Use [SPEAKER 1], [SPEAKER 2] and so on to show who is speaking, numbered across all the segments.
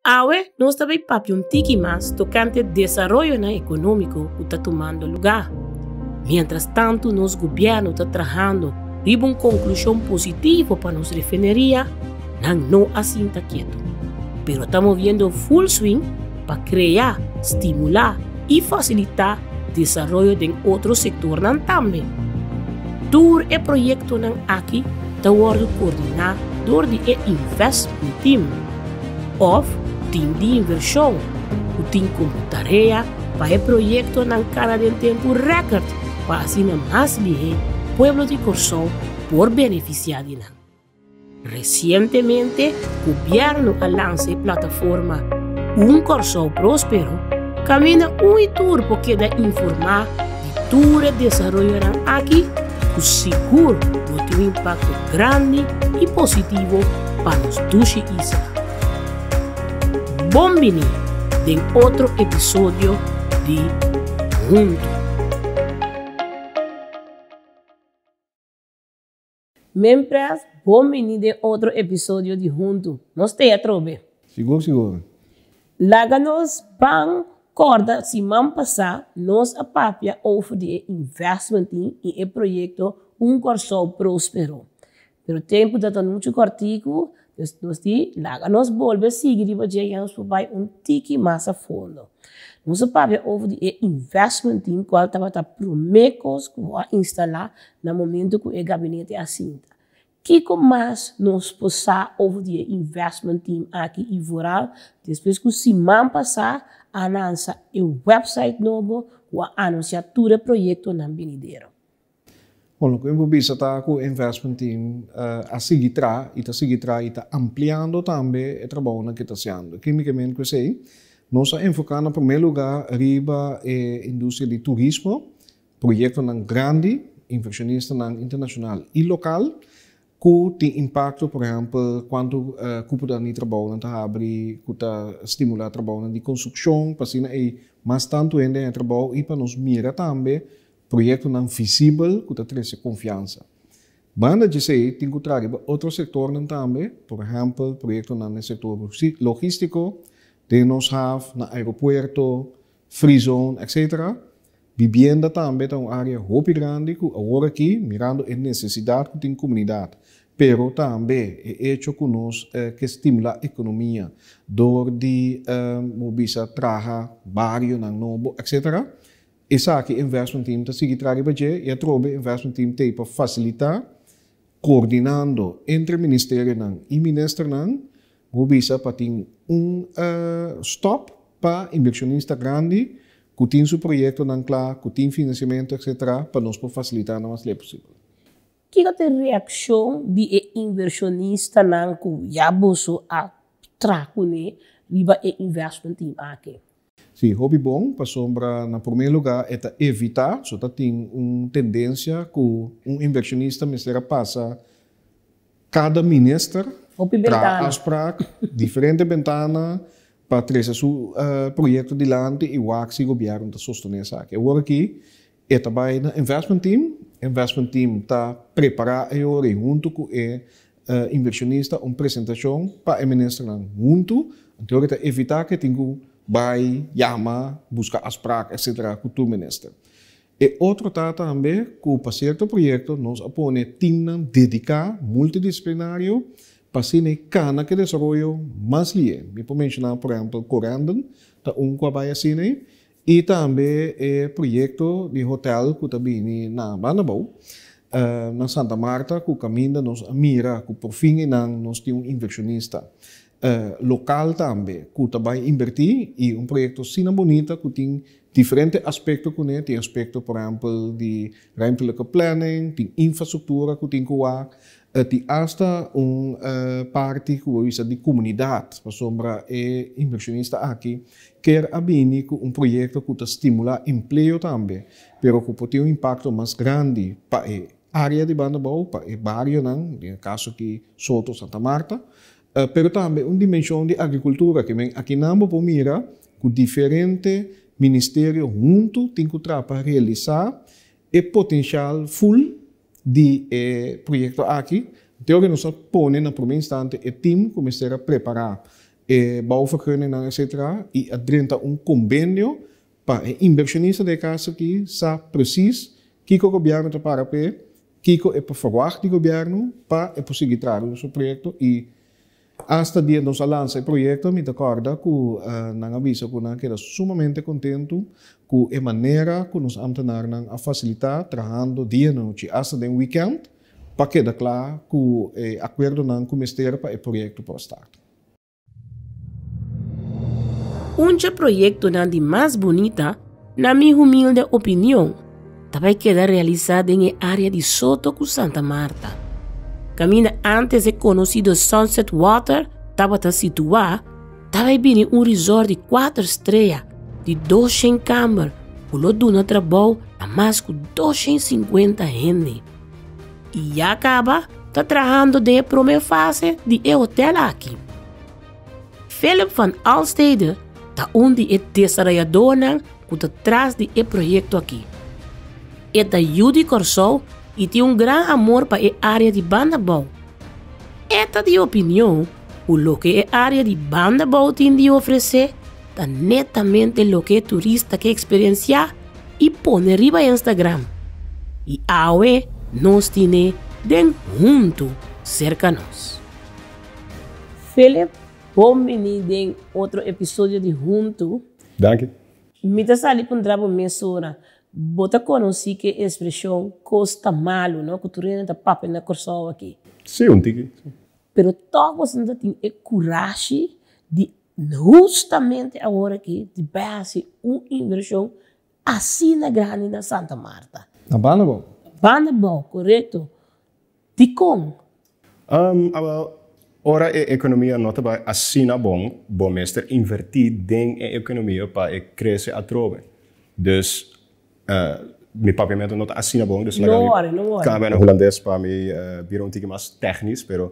[SPEAKER 1] Awe nos ta bai papia un tiki mas tokante desaroyonan ekonómiko ku ta tumando lugá. Miéntras tantu nos gobièrnu ta trahando riba un konklushon positivo pa nos refineria, nan no a sinta ketu, pero ta moviendo ful swing pa krea, stimulá i fasilitá desaroyo den otro sektornan tambe. Tur e proyektonan aki ta wòrdu koordiná dor di e Invest Team. Òf tin di invershon ku tin kumpli tarea pa e proyektonan kada den tempu rèkòrt pa asina mas bihé pueblo di Kòrsou por benefisiá di nan. Resientemente gobièrnu a lansa e plataforma Un Kòrsou Próspero kaminda un y tur por keda informá di tur e desaroyonan aki ku sigur lo tin un impakto grandi i positivo pa nos dushi isla. Bon bini den otro episodio di Huntu. Mempres, bon bini den otro episodio di Huntu nos tea trobe! Sigur sigur.
[SPEAKER 2] Laga
[SPEAKER 1] nos ban corda siman pasá nos a papia over di e investmentin in e proyecto Un Corsow Prospero. Pero tempu ta ta muchu corticu, Pues nos di, laga nos bolbe sigui riba dje yans pa bai un tiki mas a fondo. Nos a papia over di e investment team cual tabata prome cos cu bo a instala na momento cu e gabinete a sinta. Kico mas nos por sa over di e investment team aki y vooral despues cu siman pasa a lansa e website nobo cu a anuncia tur e proyectonan benidero. Bon,
[SPEAKER 2] loke mi por bisa ta ku e investment team a sigui traha i ta sigui traha i ta ampliando tambe e trabounan ke ta hasiendo. Kimikamente ku esei nos a enfoká na promé lugá riba e industria di turismo, proyektonan grandi, invershonistanan internashonal i lokal ku tin impakto, por ehèmpel kuantu kupunan di trabounan ta habri ku ta stimulá trabounan di konstrukshon pa asina ei mas tantu hende haya trabou i pa nos mira tambe Proyektonan visibel ku ta trese konfiansa. Banda di esei tin ku traha riba otro sektornan tambe, por ehèmpel proyektonan den sektor logístiko, den nos haf, na aeropuerto, free zone, etc. Bibienda tambe ta un área hopi grandi ku aworakí, mirando e nesesidat ku tin komunidat, pero tambe e echo ku nos ke stimulá ekonomia dor di, bo bisa, traha barionan nobo, etc. Esaki investment team ta sigui traha riba dje y atrobe investment team t'ey pa facilita coordinando entre ministerionan y ministernan bo bisa pa tin un stop pa inversionista grandi cu tin su proyectonan cla, cu tin financiamento etc. Pa nos por facilita lo mas ley posibel. Kico ta
[SPEAKER 1] e reaccion di e inversionistanan cu ya boso a traha cune riba e investment team aki? Sí, hopi
[SPEAKER 2] bon, pasobra na promé lugá e ta evitá, so ta tin un tendensia ku un inversionista mester a pasa kada minister traha afsprak, diferente bentana pa trese su proyekto dilanti i wak si gobièrnu ta sostené esaki. Awor aki. E ta bai na investment team, investment team ta prepara e yori huntu ku e inversionista un presentashon pa e ministernan huntu, anto e ta evitá ku e tin ku bai yama buska asprak etsetera ku tur minister. E otro ta tambe ku pa sierto proyekto nos a pone teamnan dediká multidisiplinario pa asina kana ku e desaroyo mas lié. Mi por menshoná por ehèmpel Corendon ta un ku a bai asina ei. I tambe e proyekto di hotel ku ta bini na Bandabou, na Santa Marta ku kaminda nos a mira ku por fin einan nos tin un invershonista lokal tambe ku ta bai invertí i un proyekto asina bonita ku tin diferente aspekto kuné, tin aspekto por ehèmpel di rèmtelijke plènning, tin infrastruktura ku tin ku wak E tin asta un parti ku bo bisa di komunidat, pasobra e inversionista aki kier a bini ku un proyekto ku ta stimulá empleo tambe, pero ku por tin un impakto mas grandi pa e área di Bandabou, pa e barionan, den e kaso aki Soto, Santa Marta, pero tambe un dimenshon di agrikultura ku men akinan bo por mira ku diferente ministerio huntu tin ku traha pa realisá e potenshal ful. di e proyekto aki, Teo ke nos a pone na promé instante e tim ku mester a prepará e bouwvergunningnan etsetera i a drenta un kombenio pa e inbershonista den e kas aki sa presis kiko gobièrnu ta para p'e, kiko e por ferwagt di gobièrnu pa e por sigui tradu su proyekto i Asta dia nos a lansa e proyekto mi ta kòrda ku nan a bisa ku nan a keda sumamente kontentu ku e manera ku nos ámtenarnan a fasilitá trahando dianochi asta den wikènt pa keda kla ku e akuerdonan ku mester pa e proyekto por start.
[SPEAKER 1] Un dje proyektonan di mas bunita. Na mi humilde opinion, ta bai keda realisá den e área di Soto ku Santa Marta. Kaminda antes e konosido Sunset Water tabata situá, ta bai bini un resort di kuater strea di doshen kamer ku lo duna trabou na mas ku doshen sinkuenta hende. I ya kaba ta trahando den e promé fase di e hotel aki. Philip van Alstede ta un di e desarayadónan ku ta tras di e proyekto akí. E ta yu di Kòrsou i tin un gran amor pa e área di banda bou. E ta di opinion ku loke e área di banda bou tin di ofresé ta netamente loke e turista ke eksperensiá i pone riba e Instagram. I awe nos tin e den huntu serka nos. Philip, bo bini den otro episodio di Huntu. Danki.
[SPEAKER 3] Mi ta sali
[SPEAKER 1] puntra bo mesora. Bo ta conoci cu e expresion cos ta malu, no? Cu tur hende ta papia na Corsou aki. Si, un tiki, si.
[SPEAKER 3] Pero toch
[SPEAKER 1] boso no ta tin e curashi di hustamente awor aki di bai haci un inversion Asina grandi na Santa Marta. Na banda bou.
[SPEAKER 2] Banda bou,
[SPEAKER 1] korekto. Dikon? Um, aba,
[SPEAKER 3] ora e ekonomia no ta bai asina bon, bo mester invertí den e ekonomia pa e krese atrobe. Dus, uh, mi papiamentu no ta asina bon, dus laga mi. No wòri, no wòri. Kambia
[SPEAKER 1] na hulandes pa
[SPEAKER 3] mi bira un tiki mas tèknis, pero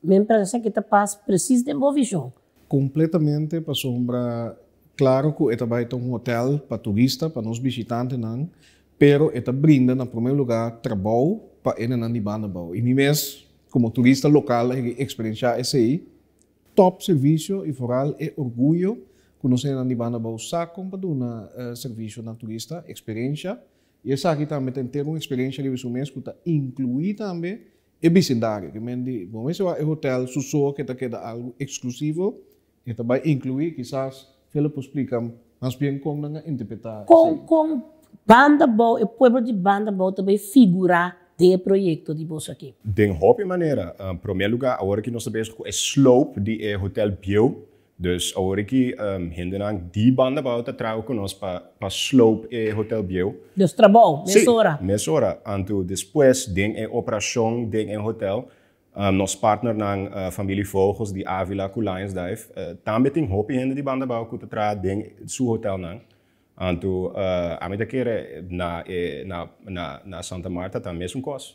[SPEAKER 3] Mi pensa cu
[SPEAKER 1] ta pas precies den bo vision. Completamente
[SPEAKER 2] pasobra claro cu e ta bay ta un hotel pa turista, pa nos bishitantenan, pero e ta brinda na primer lugar trabao pa enenan di banda bao. Y mi mes como turista local a higi experiencia esey, top servicio y foral e orguyo cu nos enenan di banda bao sa con pa duna servicio na turista, experiencia. Y esaki tambe ta entero un experiencia riba su mes cu ta inclui tambe. E bisindario, ki men di bon mester wak e hotel su so ke ta keda algu eksklusivo, ke ta bai inkluí, kisas Philip por splika mas bien kon nan a interpretá esei. Kon
[SPEAKER 1] Banda Bou, e pueblo di Banda Bou ta bai figurá den e proyekto di boso aki? Den hopi manera.
[SPEAKER 3] Promé lugá, awor ki nos ta bezig ku e slope di e hotel bieu, Dus awor aki hendenan di banda bou ta traha ku nos pa pa slope e Hotel Bieu. Nos trabou
[SPEAKER 1] mesora. Sí, mesora. Anto
[SPEAKER 3] despues den e operashon den e hotel, nos partnernan Familie Vogels di Avila ku Lions Dive tambe tin hopi hende di banda bou ku ta traha den su hotelnan. Anto ami ta kere na e na na Santa Marta ta mesun kos.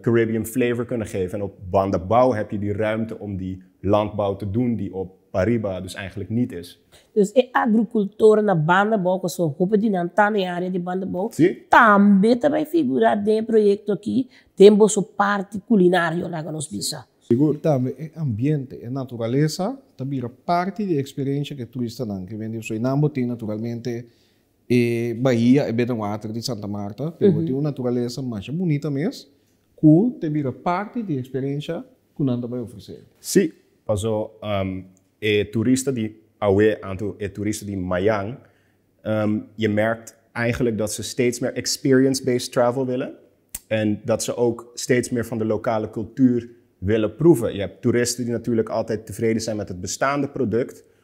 [SPEAKER 3] Caribbean flavor kunnen geven en op banda bouw heb je die ruimte om die landbouw te doen die op pariba dus eigenlijk niet is. Dus e
[SPEAKER 1] agricultoren na banda bouw cu aso hopi di nan ta na e area di banda bouw Sí. tambe
[SPEAKER 3] ta bay
[SPEAKER 1] figura den e proyecto aki den boso parti culinario laga nos bisa. Sigur. Tambe e
[SPEAKER 2] ambiente, e naturalesa ta bira parti di e experiencia cu e turistanan cu bende Suriname bo tin naturalmente E bahia e beta water di Santa Marta te ora tin un naturalesa masha bunita mes ku te bira parti di e eksperensha ku nan ta bai ofresé. Sí, paso
[SPEAKER 3] e turista di awe anto e turista di mayan je merkt eigenlijk dat se steeds meer experience based travel wille en dat se ook steeds meer van de lokale kultuur wille proeve. Je hèb toeristen di natuurlijk altijd tevreden zijn met het bestaande product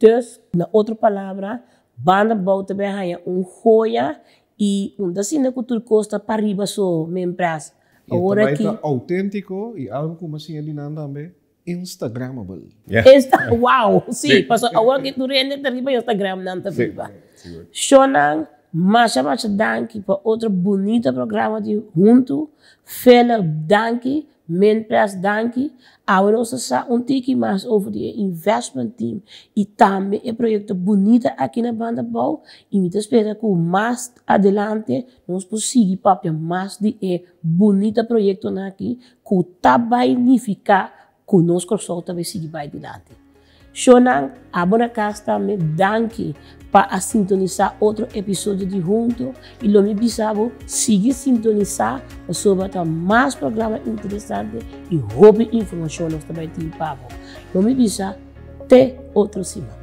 [SPEAKER 3] Dus,
[SPEAKER 1] na otro palabra, banda bou ta bay haña un hoya y un ta asina cu tur cos ta pariba so, mi mpras. Y e ta bay ta
[SPEAKER 2] autentico y algo cu mi a siña di nan tambe, Instagramable. Insta,
[SPEAKER 3] wow, si,
[SPEAKER 1] pasobra awor aki tur hende ta riba Instagram nan ta biba. Shownan, masha masha danki pa otro bunita programa di Huntu, Philip danki Mientras danki, awor nos a sa un tiki mas over di e investment team y tambe e proyecto bunita aki na Banda Bou y mi ta spera cu mas adelante nos por sigui papia mas di e bunita proyectonan aki cu ta bai nifica cu nos Kòrsou ta bai sigui bai dilanti. Shownan, abo na cas tambe. Danki pa a sintonisa otro episodio di Hunto y lo mi bisa bo sigui sintonisa pasobra ta mas programa interesante y hopi informacion nos ta bay tin pa bo. Lo mi bisa te otro siman.